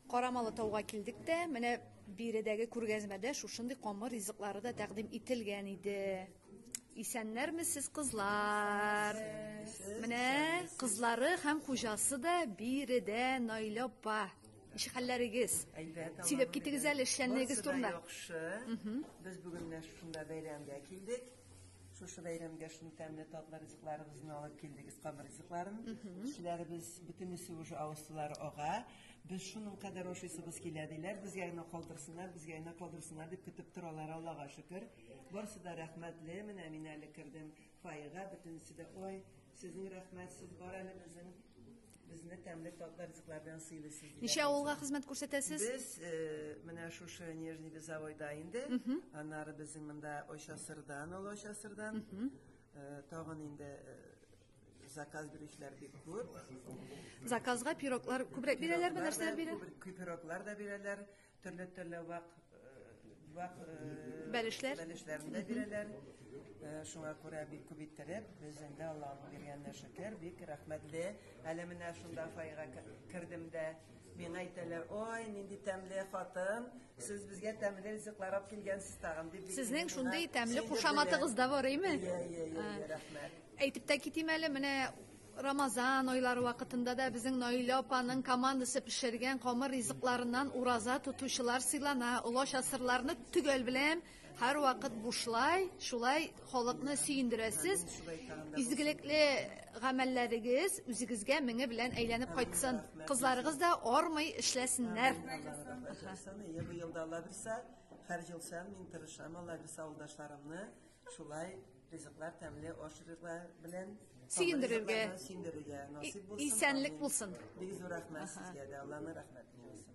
Карамалы тауга килдек тә, менә биредәге күргәзмәдә шушындый камыр ризыклары да тәкъдим ителгән иде. Исәннәрмесез, кызлар! Менә кызлары һәм хуҗасы да биредә Наилә апа. Ничек хәлләрегез? Әйбәт. Сөйләп китегез әле эшләнүегез турында. Барысы да яхшы. Без бүген менә шушында бәйрәмгә килдек. Шушы бәйрәмгә шундый тәмле татлы ризыкларыбызны алып килдек, искам ризыкларын. Кешеләребез бөтенесе уже авызсылары ага. Без шуның кадәр ашыйсыбыз килә диләр. Безгә генә калдырсыннар, безгә генә калдырсыннар дип көтеп торалар, Аллага шөкер. Барысы да рәхмәтле. Менә мин әле кердем фойега, бөтенесе дә, ой, сезнең рәхмәт, сез бар әле безнең Безне тәмле татлы ризыклар белән сыйлыйсыз. дип Ничә әйтәсез. авылга хезмәт күрсәтәсез? Без э, менә шушы Нижний Визовойда инде, аннары безнең монда Очасырдан, Олы Очасырдан, э, тагын инде э, заказ бирүчеләр бик күп. Заказга пироглар күбрәк бирәләрме, нәрсәләр бирә? Күбер- Күпероклар да бирәләр, Төрле төрле вак вак бәлешләр бәлешләрен дә бирәләр. Шуңа күрә бик күп иттереп, безнең дә Аллаһның биргәненә шөкер, бик рәхмәтле. Әле менә шунда файга кердем дә, миңа әйтәләр, ой, нинди тәмле хатын, сез безгә тәмле ризыклар алып килгәнсез тагын, дип. Сезнең шундый тәмле кушаматыгыз да бар, әйме? Әйе, әйе, рәхмәт. Әйтеп тә китим әле, менә Рамазан айлары вакытында да безнең Наилә апаның командасы пешергән камыр ризыкларыннан ураза тотучылар сыйлана. Олач асырларны төгәл беләм, һәрвакыт бушлай, шулай халыкны сөендерәсез. Изгелекле гамәлләрегез үзегезгә меңе белән әйләнеп кайтсын. Кызларыгыз да армый эшләсеннәр. Ел-елда Алла бирсә, һәр ел сән мин тырышам, Алла бирсә, авылдашларымны шулай Ризыклар тәмле аш ризыклар белән Сөендерергә. Ризыкларны сөендерергә насыйп булсын. Исәнлек Амин. булсын. Бик зур рәхмәт сезгә дә. Алланың рәхмәте яусын.